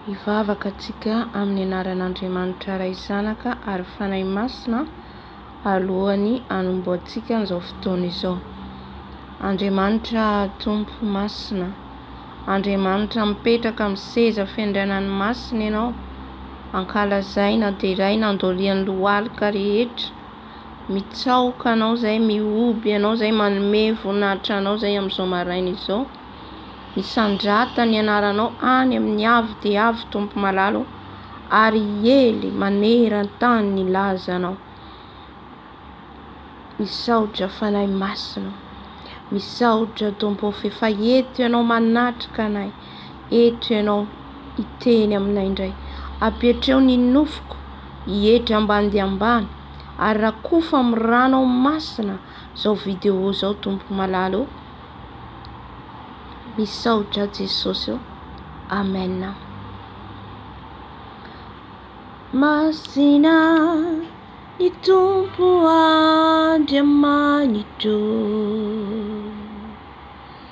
Hivavaka antsika amin'ny anaran'Andriamanitra Ray Zanaka ary Fanahy Masina alohan'ny hanombohantsika an'izao fotoana izao. Andriamanitra Tompo Masina, Andriamanitra mipetraka amin'ny seza fendrenan'ny Masina Ianao, ankalazaina, deraina, andolian'ny lohalika rehetra, Mitsaoka anao zay, mihoby anao zay, manome voninahitra anao zay amin'izao maraina izao. Misandrata ny anaranao any amin'ny avo dia avo Tompo malala ô, ary hiely maneran-tany ny lazanao. Misaotra Fanahy Masina ô, misaotra Tompo ô f'efa eto ianao manatrika anay. Eto ianao hiteny aminay indray. Apetreo ny nofoko hietry ambany dia ambany ary rakofa amin'ny ranao masina izao vidéo izao Tompo malala o. Misaotra Jesosy o. Amen. Masina ny Tompo Andriamanitro.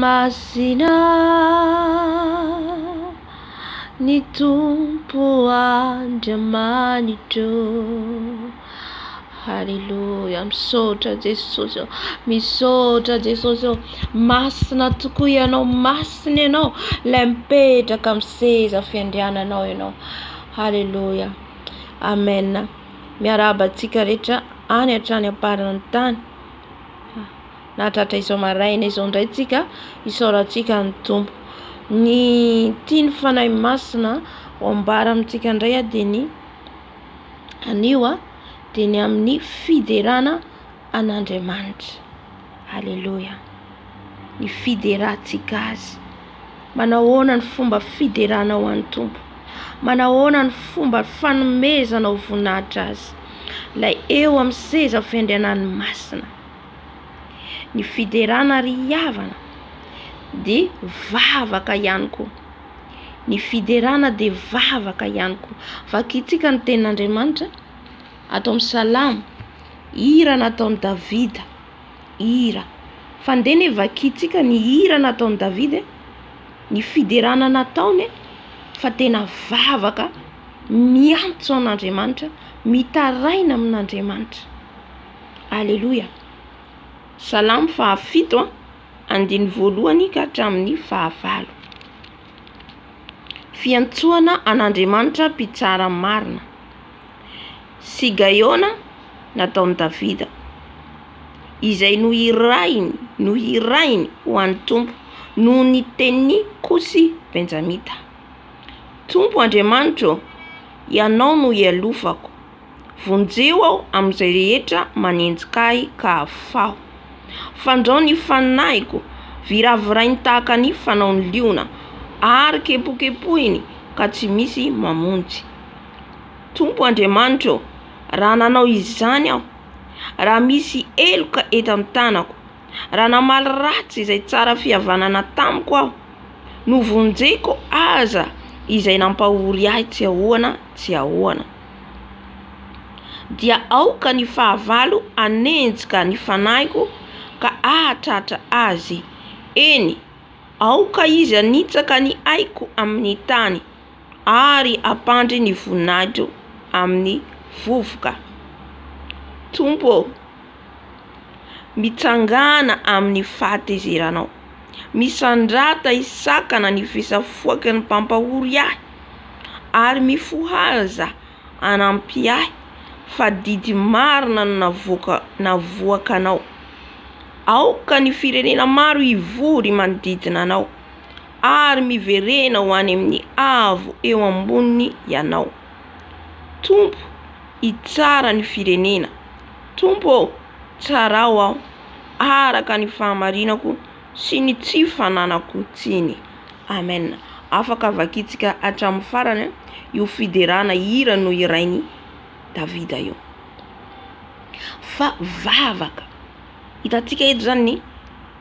Masina ny Tompo Andriamanitro Haleloia Misaotra Jesosy ô Misaotra Jesosy ô Masina tokoa Ianao Masina Ianao Ilay mipetraka amin'ny seza fiandriananao Ianao Haleloia Amen Miarahaba antsika rehetra any hatrany am-paran'ny tany nahatratra izao maraina izao indray tsika isaorantsika ny Tompo ny tiany fanahy masina ho ambara amintsika indray a dia ny anio a dia ny amin'ny fiderana an'Andriamanitra aleloia ny fiderantsika azy manahoana ny fomba fiderana ho an'ny Tompo manahoana ny fomba fanomezana ho voninahitra azy ilay eo amin'ny seza fiandrianan'ny masina Ny fiderana ary hihavana dia vavaka ihany koa. Ny fiderana dia vavaka ihany koa. Vakintsika ny tenin'Andriamanitra ato amin'ny salamo, hira nataon'i Davida, hira. Fa ndeha anie vakintsika ny hira nataon'i Davida, ny fiderana nataony fa tena vavaka miantso an'Andriamanitra, mitaraina amin'Andriamanitra. Aleloia! Salamo fahafito a, andininy voalohany ka hatramin'ny fahavalo. Fiantsoana an'Andriamanitra mpitsara marina. Sigaiona nataon'i Davida. Izay nohirahiny, nohirahiny ho an'ny Tompo noho ny tenin'i Kosy Benjamita. Tompo Andriamanitra ô, Ianao no ialofako. Vonjeo aho amin'izay rehetra manenjika ahy ka afaho. Fandrao ny faninahiko, viravirainy tahaka ny fanaon'ny liona, ary kepokepohiny ka tsy misy mamonjy. Tompo Andriamanitra ô, raha nanao izany aho, raha misy heloka eto amin'ny tanako, Raha namaly ratsy izay tsara fihavanana tamiko aho, novonjeko aza izay nampahory ahy tsy ahoana tsy ahoana, dia aoka ny fahavalo hanenjika ny fanahiko ka hahatratra azy, eny, aoka izy hanitsaka ny aiko amin'ny tany ary hampandry ny voninahitro amin'ny vovoka. Tompo ô, mitsangàna amin'ny fahatezeranao. Misandrata hisakana ny fisafoaky ny mpampahory ahy, ary mifohaza hanampy ahy, fa didy marina no navoaka navoakanao. Aoka ny firenena maro hivory manodidina anao, ary miverena ho any amin'ny avo eo amboniny ianao. Tompo, hitsara ny firenena. Tompo ô, tsarao aho araka ny fahamarinako sy ny tsy fananako tsiny. Amen. Afaka vakintsika hatramin'ny farany io fiderana hira nohirain'i Davida io. Fa vavaka. Hitantsika eto izany ny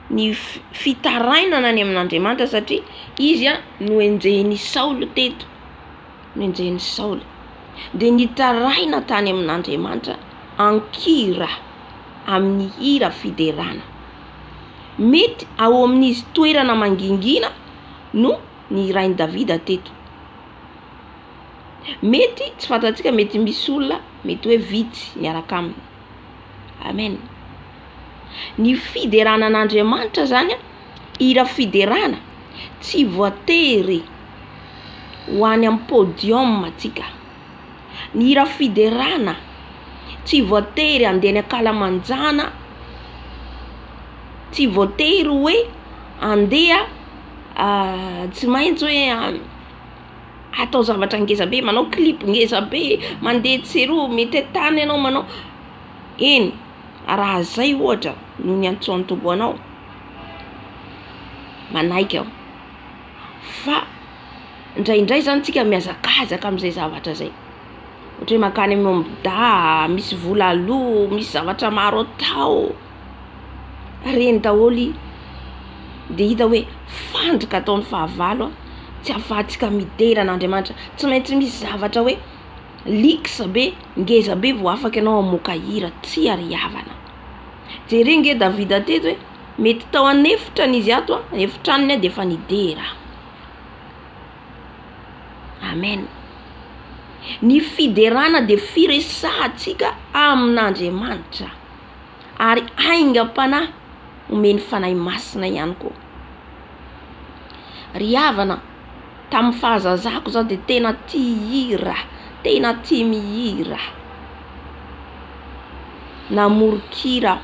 ny fitarainana any amin'Andriamanitra satria izy no enjehin'i Saoly teto. nenjehin'i Saoly dia nitaraina tany amin'Andriamanitra an-kira, amin'ny hira fiderana. Mety ao amin'izy toerana mangingina no nihirain'i Davida teto. Mety tsy fantatsika mety misy olona mety hoe vitsy miaraka aminy. Amen. Ny fiderana an'Andriamanitra zany a. hira fiderana tsy voatery ho any amin'ny podium tsika. Ny hira fiderana tsy voatery handeha any ankalamanjana, tsy voatery hoe handeha tsy maintsy hoe atao zavatra ngeza be, manao clip ngeza be, mandeha tsy eroa, mitety tany ianao manao, eny. Raha izay ohatra no niantsoan'ny Tompo anao, manaiky aho. Fa indraindray zany tsika mihazakazaka amin'izay zavatra izay. Ohatra hoe mankany amin'ny ômby dahy, misy vola aloa, misy zavatra maro atao. Reny daholo i. Dia hita hoe fandrika ataon'ny fahavalo tsy afahantsika midera an'Andriamanitra. Tsy maintsy misy zavatra hoe. Liksa be, ngeza be vao afaka ianao hamoaka hira, tsia ry havana. Jere nge Davida teto hoe mety tao an'efitrany izy ato a, efitranony a de efa nidera. Amen. Ny fiderana dia firesahantsika amin'Andriamanitra ary aingam-panahy omen'ny Fanahy Masina ihany koa. Ry havana. tamin'ny fahazazako zah dia tena tia hira, tena tia mihira, namoron-kira aho,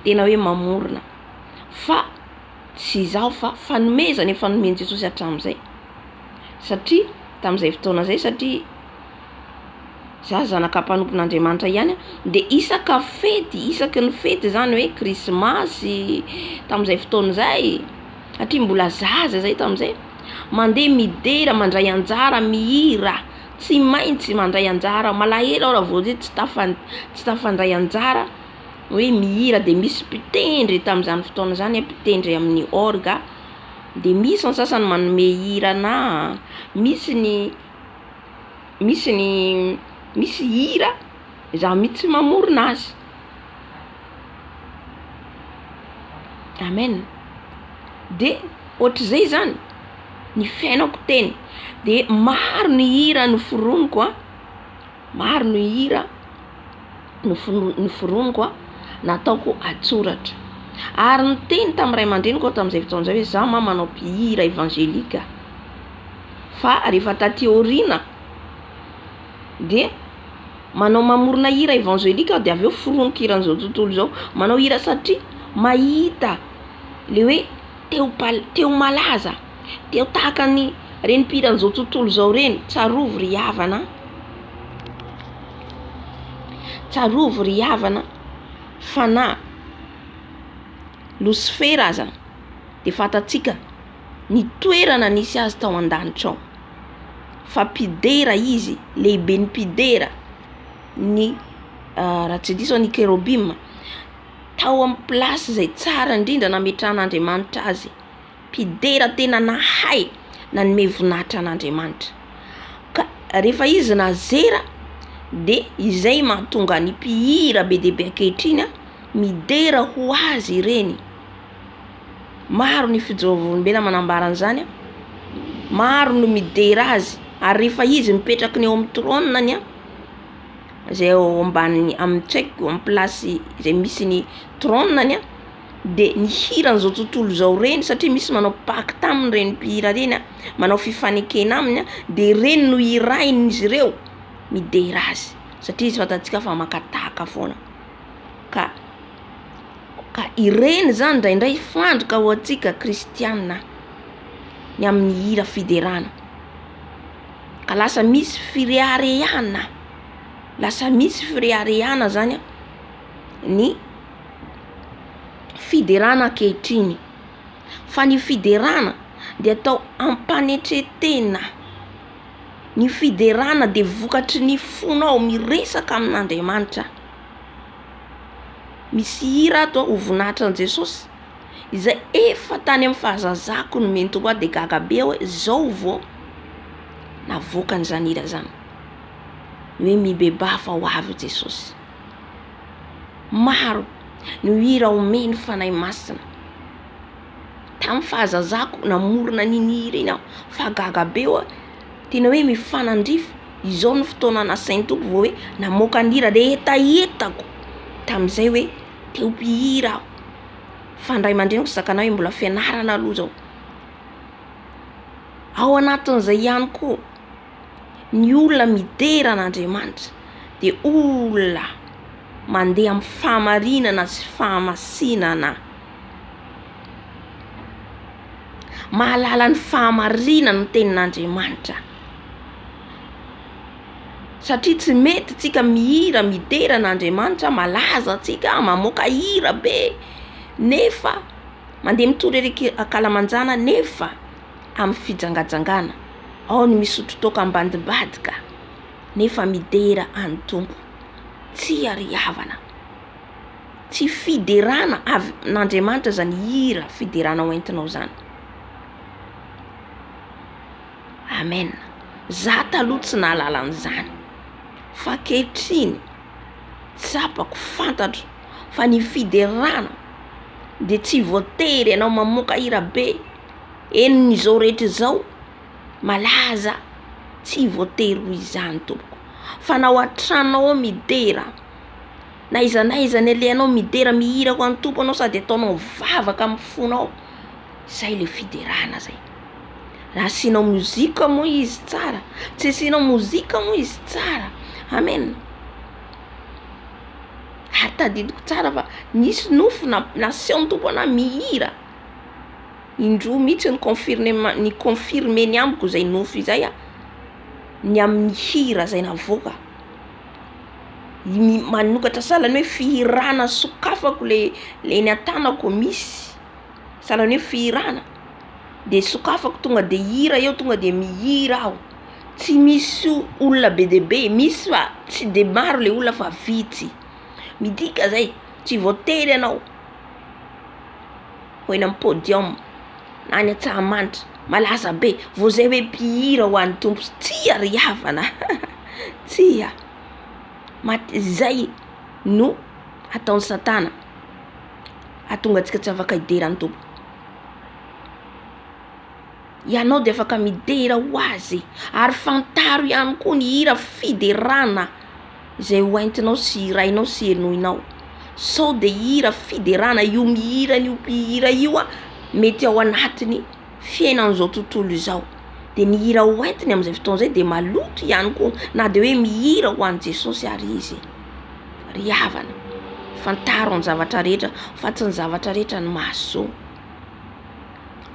tena hoe mamorona, fa tsy izaho fa fanomezana efa nomen'i Jesosy hatramin'izay, satria tamin'izay fotoana izay satria zah zanaka mpanompon'Andriamanitra ihany a, dia isaka fety, isaky ny fety izany hoe krismasy, tamin'izay fotoana izay, satria mbola zaza zay tamin'izay, mandeha midera mandray anjara mihira, tsy maintsy mandray anjara, malahelo aho raha vao hoe tsy tafan- tsy tafandray anjara hoe mihira de misy mpitendry tamin'izany fotoana izany mpitendry amin'ny orgue, de misy ny sasany manome hira anà, misy ny misy ny misy hira za mitsy mamorona azy. Amen de ohatrizay zany ny fiainako teny de maro ny hira noforoniko a, maro ny hira nofon- noforoniko a nataoko an-tsoratra ary niteny tamin'ny ray aman-dreniko aho tamin'izay fotoana izay hoe zah mama manao mpihira evangelika fa rehefa taty aoriana. dia manao mamorona hira evangelika aho dia avy eo foroniko hiran'izao tontolo izao. Manao hira satria mahita le hoe te ho mpal- te ho malaza, te ho tahaka ny reny mpihiran'izao tontolo izao reny. Tsarovy ry havana a! Tsarovy ry havana fa na losifera aza dia fantatsika ny toerana nisy azy tao an-danitra ao. fa mpidera izy, lehiben'ny mpidera ny raha tsy diso aho ny kerobima, tao amin'ny place izay tsara indrindra nametrahan'Andriamanitra azy, mpidera tena nahay nanome voninahitra an'Andriamanitra, ka rehefa izy nazera de izay mahatonga ny mpihira be dia be ankehitriny midera ho azy ireny. Maro ny fijeovolombelona manambara an'izany an, maro no midera azy ary rehefa izy mipetraky ny eo amin'ny trôniny an, izay eo ambaniny amin'ny tsy haiko amin'ny plasy izay misy ny trôniny an, dia ny hiran'izao tontolo izao ireny satria misy manao pacte aminy ireny mpihira ireny an, manao fifanekena aminy an, dia ireny no hirahin'izy ireo midera azy satria izy fantatsika fa maka tahaka foana. ka ka ireny zany indraindray fandrika ho antsika kristiana ny amin'ny hira fiderana ka lasa misy fireharehana lasa misy fireharehana zany a ny fiderana ankehitriny fa ny fiderana de atao ampanetretena ny fiderana de vokatry ny fonao miresaka amin'Andriamanitra. Misy hira ato a, ho voninahitra an'i Jesosy, izay efa tany amin'ny fahazazako no nentiko ho ahy dia gaga be aho hoe izao vao navoaka an'izany hira izany. Ny hoe mibebaha fa ho avy i Jesosy. Maro no hira omeny ny Fanahy Masina. Tamin'ny fahazazako namorona an'iny hira iny aho fa gaga be aho hoe tena hoe mifanandrify, izao no fotoana nasain'ny Tompo vao hoe namoaka ny hira de hetahetako tamin'izay hoe te ho mpihira aho, fa ny ray aman-dreniko tsy zakanay hoe mbola fianarana aloha zao, ao anatin'izay ihany koa ny olona midera an'Andriamanitra de olona mandeha amin'ny fahamarinana sy fahamasinana. mahalala ny fahamarinany ny tenin'Andriamanitra satria tsy mety tsika mihira midera an'Andriamanitra malaza tsika mamoaka hira be nefa mandeha mitory ery ankalamanjana nefa amin'ny fijangajangana ao ny misotro toaka ambadimbadika nefa midera an'i Tompo tsy ary havana Tsy fiderana avy amin'Andriamanitra izany hira fiderana ho entinao izany. Amen. Za taloha tsy nahalala an'izany fa ankehitriny tsapako, fantatro fa ny fiderana dia tsy voatery ianao mamoaka hira be, eny izao rehetra izao malaza tsy voatery ho izany tompoko fa na ao an-tranonao ao midera. Na aiza na aiza alehanao midera mihira ho an'i Tompo ianao sady ataonao mivavaka amin'ny fonao, izay ilay fiderana izay. Raha asianao mozika moa izy tsara, tsy asianao mozika moa izy tsara. Amen. Ary tadidiko tsara fa nisy nofy namp- nasehon'ny Tompo anahy mihira, indroa mihitsy ny confirnema- ny confirme-ny amiko izay nofy izay, ny amin'ny hira izay navoaka. ny manokatra sahalan'ny hoe fihirana sokafako le le eny an-tanako misy sahalan'ny hoe fihirana de sokafako tonga de hira eo tonga de mihira aho tsy misy olona be dia be misy fa tsy de maro le olona fa vitsy midika zay tsy voatery ianao ho eny amin'ny podium na any Antsahamanitra, malaza be, vao izay hoe mpihira ho an'ny Tompo, tsia ry havana a! tsia, mate izay no ataon'i Satana hahatonga antsika tsy afaka hidera ny Tompo, ianao dia afaka midera ho Azy ary fantaro ihany koa ny hira fiderana. izay ho entinao sy hirainao sy henoinao sao de hira fiderana io mihira an'io mpihira io a mety ao anatiny fiainan'izao tontolo izao de ny hira ho entiny amin'izay fotoana izay de maloto ihany koa na de hoe mihira ho an'i Jesosy ary izy ry havana fantaro ny zavatra rehetra fa tsy ny zavatra rehetra no mahasoa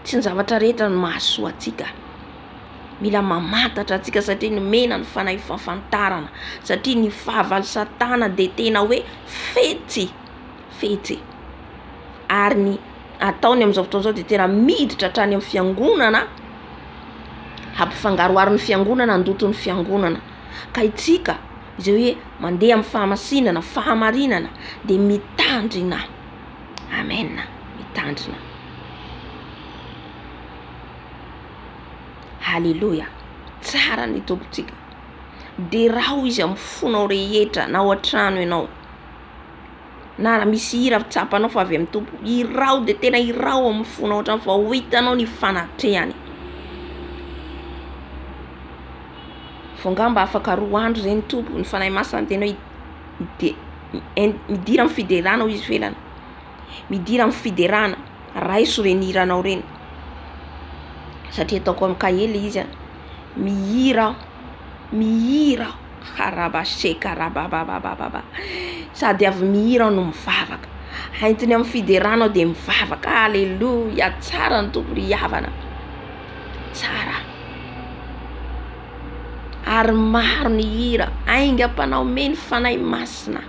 Tsy ny zavatra rehetra no mahasoa antsika. Mila mamantatra antsika satria nomena ny fanahy fahafantarana. Satria ny fahavalo satana dia tena hoe fetsy, fetsy. Ary ny ataony amin'izao fotoana izao dia tena miditra hatrany amin'ny fiangonana, hampifangaroharo ny fiangonana, handoto ny fiangonana. Ka isika izay hoe mandeha amin'ny fahamasinana, fahamarinana dia mitandrina. Amen mitandrina. Aleloia tsara ny tompontsika deraho izy amin'ny fonao rehetra na ao an-trano ianao na raha misy hira tsapanao fa avy amin'ny tompo iraho de tena iraho amin'ny fonao ao an-trano fa ho hitanao ny fanatrehany fo angamba afaka roa andro zay ny tompo ny fanahy masina miteny hoe dia midira amin'ny fiderana hoy izy felana, midira amin'ny fiderana raiso ireny hiranao ireny satria ataoko amin'ny kahie ilay izy a, mihira aho, mihira aho araba seka arabababababa sady avy mihira aho no mivavaka, haintony amin'ny fiderana aho dia mivavaka ah aleloia tsara ny Tompo ry havana, tsara. ary maro ny hira aingam-panahy omeny ny Fanahy Masina.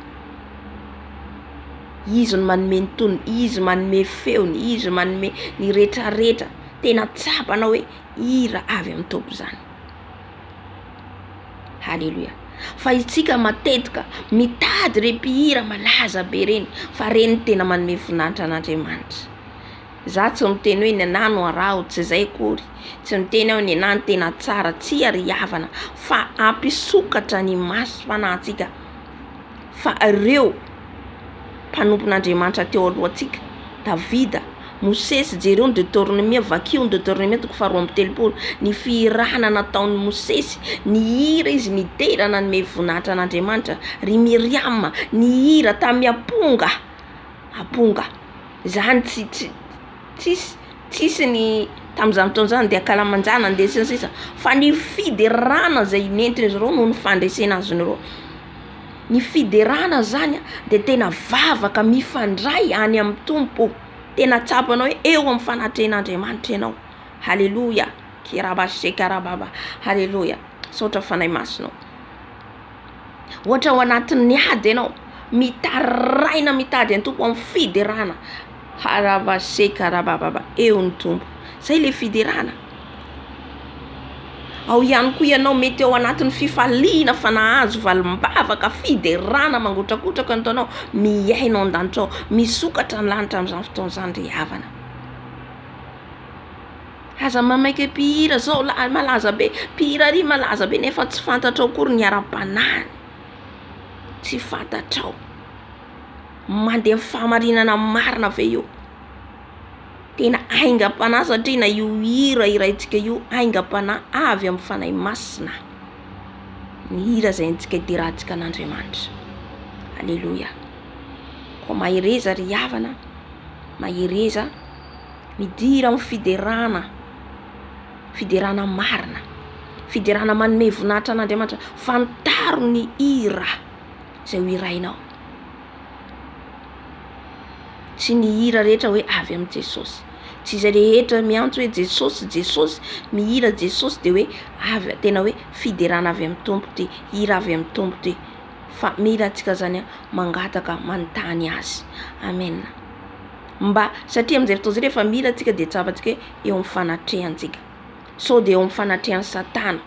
Izy no manome ny tonony, Izy manome feony, Izy manome ny retraretra. Tena tsapanao hoe hira avy amin'ny Tompo izany. Haleloia. Fa isika matetika mitady ireny mpihira malaza be ireny fa ireny no tena manome voninahitra an'Andriamanitra. Za tsy miteny hoe nenahy no araho, tsy zay akory, tsy miteny aho nenahy no tena tsara, tsia ry havana fa hampisokatra ny maso fanahintsika fa ireo mpanompon'Andriamanitra teo alohantsika, Davida, Mosesy, jereo ny Detornomia, vakio ny Detornomia toko faharoa amby telopolo, ny fihirana nataon'i Mosesy, nihira izy nidera nanome voninahitra an'Andriamanitra, ry Miriama nihira tamy aponga, aponga zany tsy tsy tsisy tsisy ny tamin'izany fotoana izany dia ankalamanjana andeha sy ny sisa fa ny fiderana izay nentin'izy ireo noho ny fandresena azy ireo ny fiderana zany a dia tena vavaka mifandray any amin'ny Tompo tena tsapanao hoe eo amin'ny fanatrehan'Andriamanitra ianao haleloia keraba sekarababa haleloia misaotra Fanahy Masina ô. Ohatra ao anatin'ny ady ianao, mitaraina mitady an'i Tompo amin'ny fiderana, haravasekaravababa eo ny Tompo. Izay ilay fiderana. Ao ihany koa ianao mety ao anatin'ny fifaliana fa nahazo valim-bavaka, fiderana mangotrakotraka no ataonao, mihaino ao an-danitra ao, misokatra ny lanitra amin'izany fotoana izany ry havana. Aza mamaika mpihira zao lahy malaza be, mpihira ary malaza be nefa tsy fantatrao akory ny ara-panahiny, tsy fantatrao, mandeha amin'ny fahamarinana marina ve io, tena aingam-panahy satria na io hira hiraintsika io aingam-panahy avy amin'ny Fanahy Masina, ny hira izay haintsika hiderahantsika an'Andriamanitra, aleloia, koa mahereza ry havana, mahereza. Midira amin'ny fiderana, fiderana marina, fiderana manome voninahitra an'Andriamanitra. Fantaro ny hira izay ho hirainao. Tsy ny hira rehetra hoe avy amin'i Jesosy. Tsy izay rehetra miantso hoe Jesosy, Jesosy, mihira Jesosy dia hoe avy a- tena hoe fiderana avy amin'ny Tompo ity, hira avy amin'ny Tompo ity. Fa mila antsika izany mangataka, manontany Azy. Amena. mba satria amin'izay fotoana izay rehefa mila antsika dia tsapantsika hoe eo amin'ny fanatrehantsika. Sao dia eo amin'ny fanatrehan'i Satana.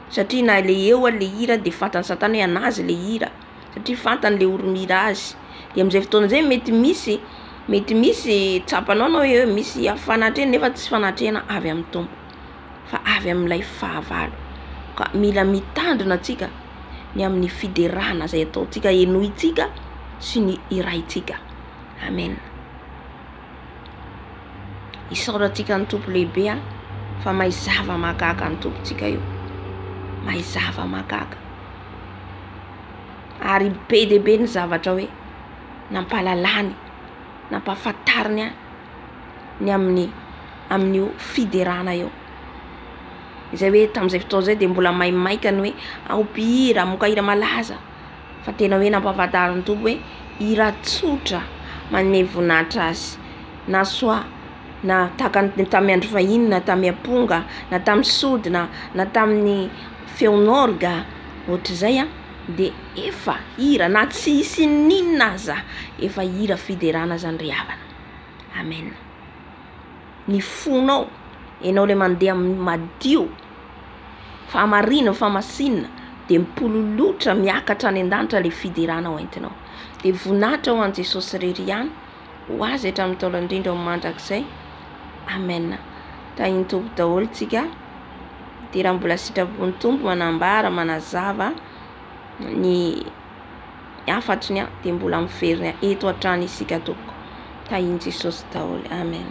Satria na ilay eo ary ilay hira dia fantan'i Satana hoe an'azy ilay hira. Satria fantany ilay oro-mira azy. Dia amin'izay fotoana izay mety misy mety misy tsapanao ianao hoe misy fanatrehana nefa tsy fanatrehana avy amin'ny Tompo. Fa avy amin'ilay fahavalo. Ka mila mitandrina antsika ny amin'ny fiderana izay ataontsika, henointsika sy ny hiraintsika. Amen. Isaorantsika ny Tompo lehibe a fa mahay zava-mahagaga ny Tompontsika io. Mahay zava-mahagaga. Ary be dia be ny zavatra hoe nampahalalany, nampahafantariny ahy ny amin'ny amin'io fiderana io. Izay hoe tamin'izay fotoana izay dia mbola maimaika ny hoe aho mpihira, hamoaka hira malaza. fa tena hoe nampahafantaro ny Tompo hoe hira tsotra manome voninahitra Azy na soit na tahaka ny tamin'ny andro fahiny na tamin'ny amponga na tamin'ny sodina na tamin'ny feon'orga ohatr'izay dia efa hira na tsy hisy n'inon'inona aza efa hira fiderana izany ry havana. Amen. ny fonao, enao le mandeha amin'ny madio, fahamariana, fahamasinina, de mipololotra miakatra any an-danitra le fiderana ho entinao, de voninahitra ho an'i Jesosy irery ihany, ho Azy hatramin'ny ntaolo indrindra ho mandrakizay, Amen. Tahin'ny Tompo daholo tsika, de raha mbola sitrapon'ny Tompo manambara, manazava ny. hafatry ny ahy dia mbola miverina eto hatrany isika tompoko tahin'i Jesosy daholo Amen.